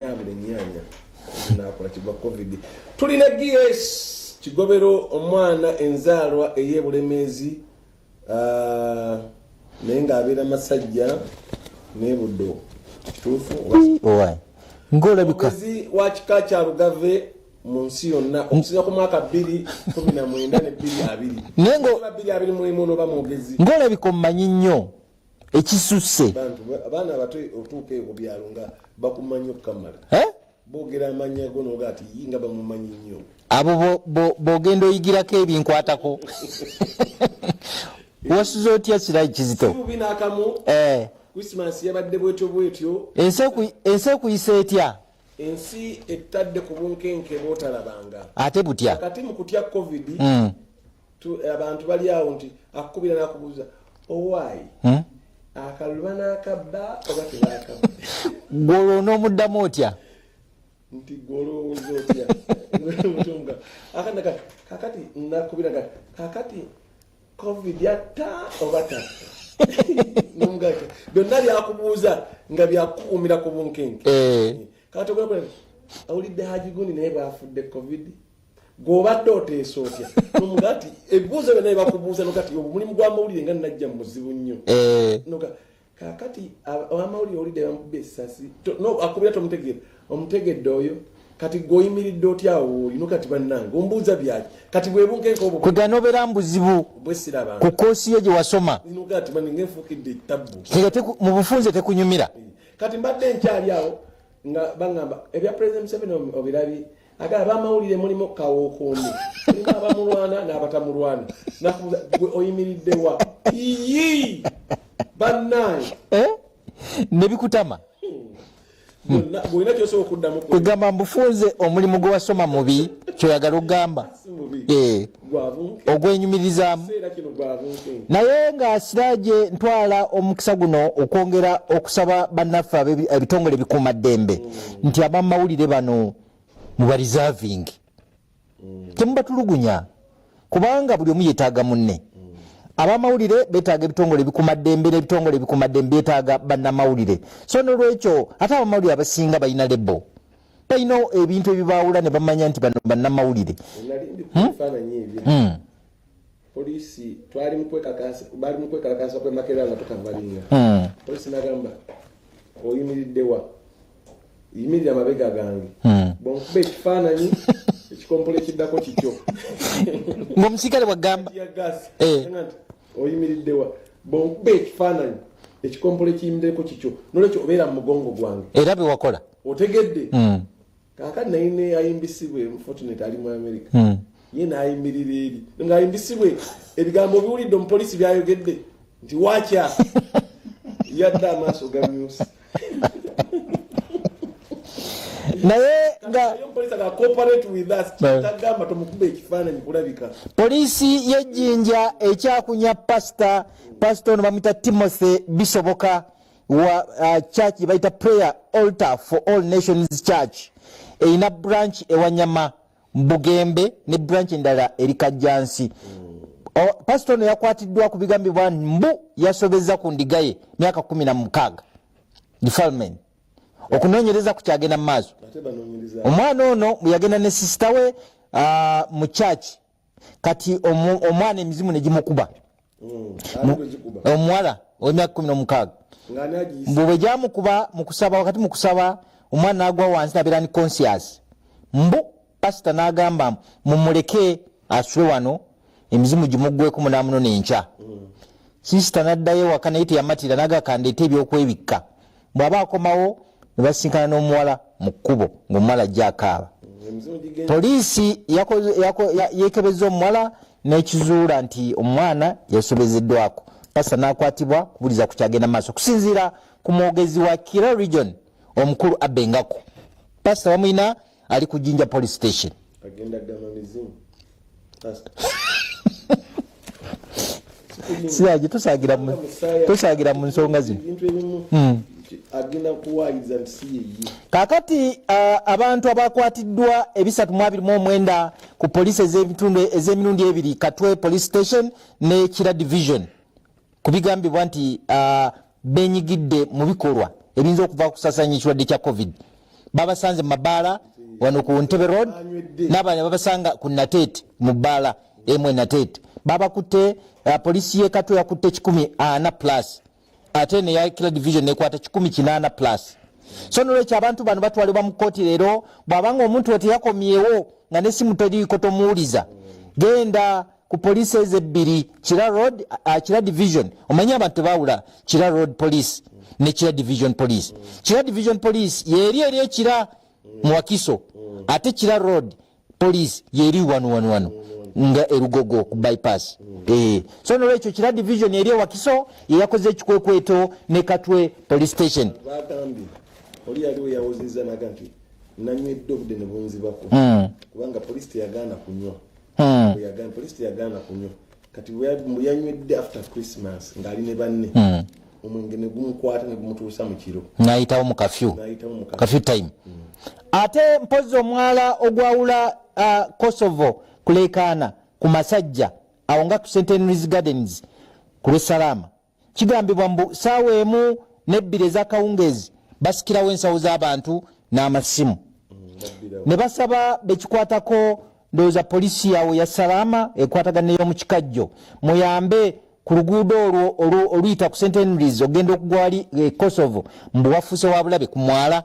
yabula ennyanya nakola kigwa covid tuli ne gs kigobero omwana enzaalwa ey'ebulemeezi ah, naye ng'abeera masajja nebuddo kituufu ng'olabikazi wa kika kya lugave mu nsi yonna okusinza ku mwaka bbiri kumi na mwenda ne bbiri abiri naye ng'olabika omumanyi nnyo ekisusse abaana abato otuuka eko byalo nga bakumanyi okukamala bogera amanya go noga ati yinga bamumanyi nnyo abo bogenda oyigirako ebinkwatako wasuze otya kirayi kizito eh. ensi ekuyisa etya ensi ettadde ku bunkenke botalabanga ate butya kati mukutya covid mm. abantu bali awo nti akukubira nakubuuza owaayi hmm? akalulu banakabba oba tebakabba gwolwo onoomuddamu otya nti gwolowooza otya mutunga akanaka kakati nakubira kati kakati covid yatta oba tatta nomugati byonna byakubuuza nga byakukuumira ku bunkenke eh. kati ogakula awulidde hajigundi naye bwafudde covid gwobadde oteesa otya nomugati ebibuuzo byonna ebakubuuza nogati obu mulimu gwamawulire nga najja muzibu nnyo eh. noga kakati amawulire olidde bamubba esasi akubira tomutegeera omutegedde oyo kati gwoyimiridde otya awooyi nogati bannange ombuuza byaki kati bwebunkenkobkwegana obeera mubuzibu bwesirabanga ku koosi yo gye wasoma nogati maninga enfuukidde etabbu mu bufunze tekunyumira eh. kati mbadde nkyali awo nga bagamba ebya president museveni obirabi aga abamawulire mulimu kawuukuumi mulimu abamulwana n'abatamulwana nakubuza gwe oyimiridde wa iyi bannaye eh? nebikutama kwegamba mbufunze omulimu gwewasoma mubi kyoyagala okugamba eh. ogwenyumirizaamu naye nga siraje ntwala omukisa guno okwongera okusaba bannaffe ebitongole ebikuuma ddembe nti abamawulire bano mubarizavingi mm. temubatulugunya kubanga buli omu yetaaga munne abamawulire betaaga ebitongole bikumaddembe nebitongole bikumaddembe byetaaga bannamawulire so nolwekyo ate abamawulire abasinga balina lebo balina ebintu ebibaawula ne bamanya nti bano bannamawulire hmm? hmm. polisi twali bali mukwekalakasa kwemakera nga tukavalinga hmm. polisi nagamba oyimiriddewa yimirira amabega gange bonkuba ekifaananyi ekikompola ekiddako kikyo ngaomusikale bwagamba eh. oyimiriddewa bonkuba ekifaananyi ekikompola ekiyimiddeko kikyo nolwekyo obeera mu mugongo gwange era bewakola otegedde hmm. kakati naye neyayimbisibwe mufortunate ali mu america hmm. ye nayimirira eri ngaayimbisibwe ebigambo obiwulidde omupolisi byayogedde nti wakya yadde amaaso gamyusi naye poliisi y'ejjinja ekyakunya pasita pasita ono bamwita timothy bisoboka wa uh, church gyebayita prayer altar for all nations church erina branch ewanyama bugembe ne branch endala eri kajjansi pasita ono yakwatiddwa ku bigambibwa mbu yasobezza ku ndigaye myaka kumi na mukaaga defilement okunoonyereza ku kyagenda mu maaso omwana ono yagenda ne sisita we uh, mu church kati omwana emizimu negimukuba mm, omuwala owemyaka kumi nomukaaga mbu bwejamukuba mukusaba wakati mukusaba omwana nagwa wansi nabeera ni conscious mbu pasita nagamba mumuleke asule wano emizimu gimugweko munamuno nenkya mm. sisita naddayo waka naye teyamatira nagakandeta ebyokwebikka bw'aba akomawo ne basinkana n'omuwala mu kkubo ng'omuwala ajja akaaba poliisi yeekebezza omuwala n'ekizuula nti omwana yasobezeddwako pasa n'akwatibwa kubuliza ku kyagenda maaso okusinziira ku mwogezi wa kira region omukulu abengako pasa bamulina ali ku jinja police station agenda gama mizimu siyaji tusagira mu tusagira mu nsonga zino hmm. agenda kuwayiza nti si yeye kakati abantu abakwatiddwa ebisatu mu abiri mu omwenda ku poliisi ez'emirundi ebiri katwe police station ne kira division ku bigambibwa nti uh, benyigidde mu bikolwa ebiyinza okuva kusasanya ekirwadde kya covid babasanze mu mabaala wano ku ntebe road nabana babasanga ku nateete mu bbaala emu enateete babakutte uh, polisi yekatwe yakutte kikumi ana plus ate neya kila division nekwata kikumi kinaana plus so nolwekyo abantu bano batwalibwa mu kkooti leero bwabanga omuntu weteyakomyewo nga nesimu teriiko tomuwuliza genda ku poliisi ezo ebbiri kira road uh, kira division omanyi abantu tebawula kira road police ne kira division police kira division police yeeri eri ekira muwakiso ate kira road police yeeri wanu wanu wanu nga erugogo ku bypass eh, so nolwekyo kira division eri ewakiso yeyakoze ekikwekweto ne katwe police station oli yaliwo yawozeza naga nti nanywedde obudde nebunzibako hmm. kubanga poliisi teyagaana kunywa hmm. yagamba police teyagaana kunywa kati yanywedde after christmas ng'ali ne banne hmm. omwenge ne gumukwata ne gumutuusa mu kiro n'ayitawo mu kafyu kafyu time hmm. ate mpozzi omwala ogwawula uh, kosovo kuleekaana ku masajja awo nga ku centenaries gardens ku lwesalaama kigambibwa mbu saawa emu nebbiri ezakawungeezi basikirawo ensawo z'abantu n'amasimu ne basaba bekikwatako ndowooza poliisi yawo ya salaama ekwatagana ney'omukikajjo muyambe ku luguudo olwo oluyita ku st henrys ogenda okugwali e kosovo mbu wafuuse wa bulabe ku mwala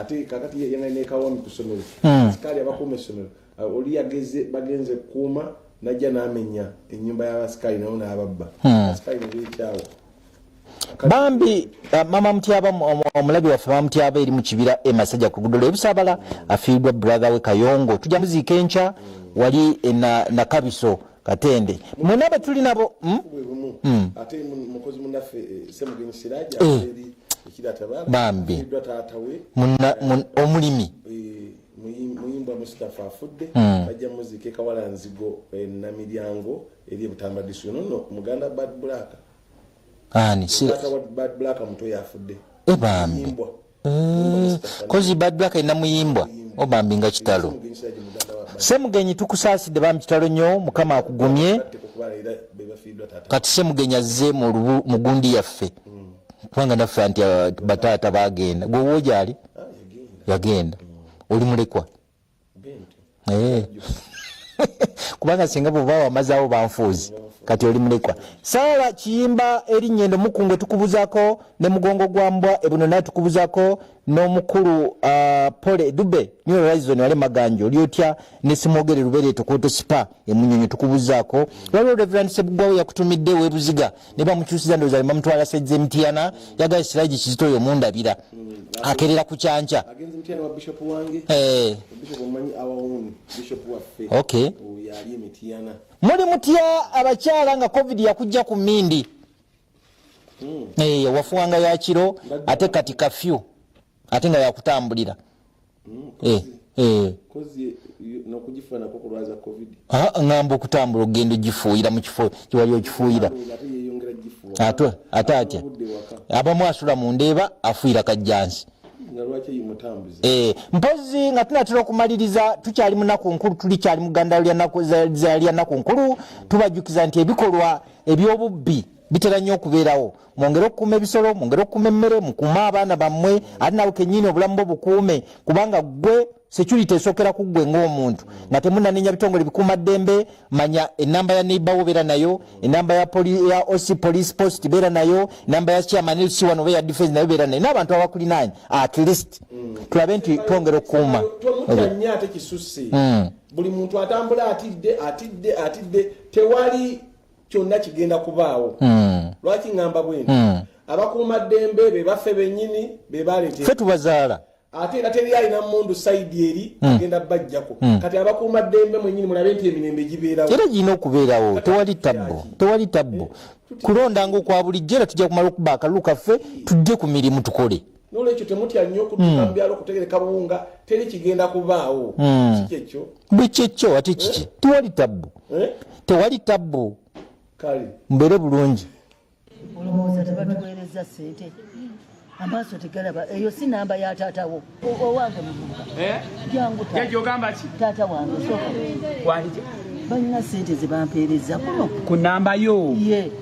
ate kakati yeyanga nekawomi ku ssomero hmm. asikaali abakuuma essomero uh, oli yageze bagenze kukuuma najja namenya enyumba yabasikaali nawo nababba hmm. asikaali nebekyawo bambi uh, mama mutyaba omulabi waffe mama mutyaba eri mu kibira emasajja ku lugudo lwebusabala afiiridwa brother we kayongo tujja muziika enkya wali e, nakabiso na katende mwena betuli nabo hmm? Hmm. bambi omulimi muyimbwa mustafa afudde hmm. bajja muzike kawala nzigo eh, namiryango eri ebutamba disu nono muganda bad black ani bad black muto yafudde ebambi eh, Mm, kozi badwa kaina muyimbwa obambi nga kitalo semugenyi tukusaasidde bambi kitalo nnyo mukama akugumye kati semugenyi azze mu gundi yaffe kubanga naffe anti uh, bataata bagenda gwe woojali ah, yagenda oli mulekwa eh. kubanga singa bwoba wamazaawo banfuuzi kati oli mulekwa saala kiyimba erinnya endo mukungwe tukubuzako ne mugongo gwa mbwa ebuno naye tukubuzako n'omukulu uh, pole dube new horizon wale maganjo oli otya nesimwogere lubere tokoto sipa emunyonyo tukubuzako waliwo reverend sebugwawo yakutumidde webuziga ne bamukyusiza ndowooza ne bamutwala sejja emitiana yagala siraji kizito oyo mundabira akerera ku kyanca muli mutya abakyala nga covid yakujja ku mindi hmm. eh, wafuwanga yakiro ate kati kafyu ate nga yakutambulira mm, eh, eh. ngamba okutambula okugenda ogifuuyira mu kifo kiwali okifuuyira ate ate atya abamu asula mu ndeeba afuuyira kajjansi Eh, mpozi nga tunatera okumaliriza tukyali munaku nkulu tuli kyali muganda lya naku nkulu tubajukiza nti ebikolwa ebyobubbi bitera nnyo okubeerawo mwongere okukuuma ebisolo mwongere okukuuma emmere mukuume abaana bammwe ate nawe kenyini obulamu bwo bukuume kubanga gwe security esokera ku gwe ng'omuntu nga temunanenya bitongole bikuuma ddembe manya enamba ya neighborwo beera nayo enamba ya, poli, ya oc police post beera nayo enamba ya chairman lc wano oba ya defense nayo beera nayo n'abantu abakulinaanya at least mm. tulabe nti twongera okukuuma mm. buli muntu atambula atidde atidde atidde tewali kyonna kigenda kubaawo hmm. lwaki ŋŋamba bwenti hmm. abakuuma ddembe be baffe bennyini be baleete fe tubazaala ate era teri alina mundu saidi eri hmm. agenda bajjako hmm. kati abakuuma ddembe mwenyini mulabe nti emirembe gibeerawo era girina okubeerawo tewali tabbo tewali tabbo eh, kulonda ngaokwa bulijjo era tujja kumala okuba akalulu kaffe tujje ku mirimu tukole nolwekyo temutya nnyo okutuuka hmm. mu byalo okutegereka buwunga teri kigenda kubaawo hmm. kikyekyo bwekyekyo ate kiki eh? tewali tabbu eh? tewali tabbu kale mbeere bulungi olowooza tebatuweereza sente amaaso tegalaba eyo si namba ya taatawo owange muvubuka eh? jangu jajogamba ki taata wange soka balina sente zebampeereza kuno ku namba yo ye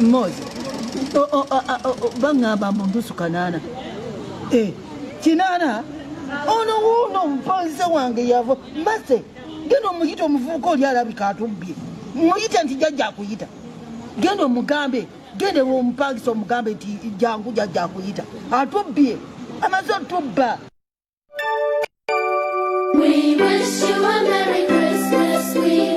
mozi baŋŋamba mbu ndusu kanaana eh, kinaana ono wuuno omupanze wange yava mase genda omuyita omuvubuka oli alabika atubbye muyite nti jajja akuyita genda omugambe genda ewomupangisa omugambe nti jangu jajja akuyita atubbye amaze otubba We wish you a Merry Christmas. We